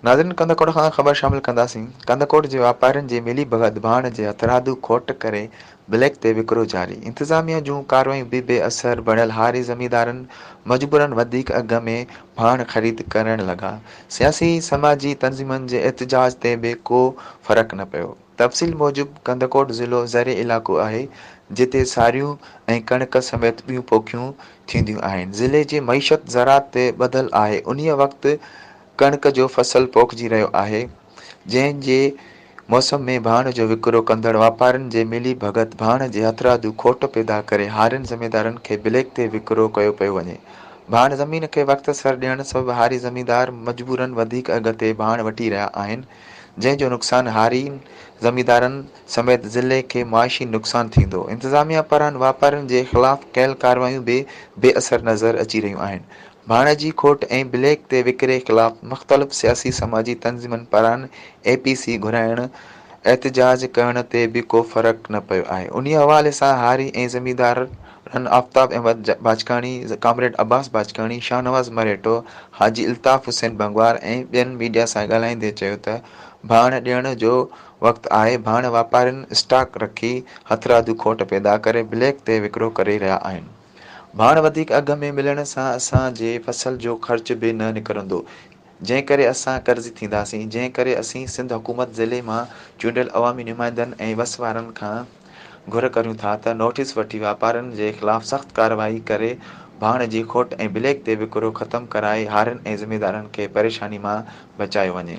ناظرين ڪنڌڪوٽ کان خبر شامل ڪنداسين، ڪنڌڪوٽ جي واپارين جي ملي ڀڳت ڀاڻ جي هٿرادو کوٽ ڪري بليڪ تي وڪرو جاري، انتظاميه جون ڪارروايون به بي اثر بڻيل هاري زميندارن مجبورن وڌيڪ اگهه ۾ ڀاڻ خريد ڪرڻ لڳا، سياسي سماجي تنظيمن جي احتجاج تي به ڪو فرق نه پيو. تفصيل موجب ڪنڌڪوٽ ضلعو زرعي علائقو آهي، جتي ساريون ۽ ڪڻڪ سميت ٻيون پوکيون ٿينديون آهن. ضلعي جي معيشت زراعت تي ٻڌل آهي. انهيء وقت ڪڻڪ جو فصل پوکجي رهيو آهي، جنهن جي موسم ۾ ڀاڻ جو وڪرو ڪندڙ واپارين جي ملي ڀڳت ڀاڻ جي هٿرادو کوٽ پيدا ڪري هارين زميندارن کي بليڪ تي وڪرو ڪيو پيو وڃي. ڀاڻ زمين کي وقت سر ڏيڻ سبب هاري زميندار مجبورن وڌيڪ اگهه تي ڀاڻ وٺي رهيا آهن، جنهن جو نقصان هاري زميندارن سميت ضلعي کي معاشي نقصان ٿيندو، انتظاميا پاران واپارين جي خلاف ڪيل ڪارروايون به بي اثر نظر اچي رهيون آهن، ڀاڻ جي کوٽ ۽ بليڪ تي وڪري خلاف مختلف سياسي سماجي تنظيمن پاران اي پي سي گهرائڻ، احتجاج ڪرڻ تي به ڪو فرق نه پيو آهي، انهي حوالي سان هاري ۽ زميندار. هن آفتاب احمد باجڪاڻي، ڪامريڊ عباس باجڪاڻي، شاهنواز مرهيٽو، حاجي الطاف حسين ڀنگوار ۽ ٻين ميڊيا سان ڳالهائيندي چيو ته ڀاڻ ڏيڻ جو وقت آهي، ڀاڻ واپارين اسٽاڪ رکي هٿرادو کوٽ پيدا ڪري بليڪ تي وڪرو ڪري رهيا آهن، ڀاڻ وڌيڪ اگهه ۾ ملڻ سان اسان جي فصل جو خرچ به نه نڪرندو، جنهن ڪري اسان قرضي ٿينداسين، جنهن ڪري اسين سنڌ حڪومت ضلعي مان چونڊيل عوامي نمائندن ۽ وس وارن کان گهر ڪريون ٿا ته نوٽيس وٺي واپارين جي خلاف سخت ڪارروائي ڪري ڀاڻ جي کوٽ ۽ بليڪ تي وڪرو ختم ڪرائي هارين ۽ ذميدارن کي پريشاني مان بچايو وڃي.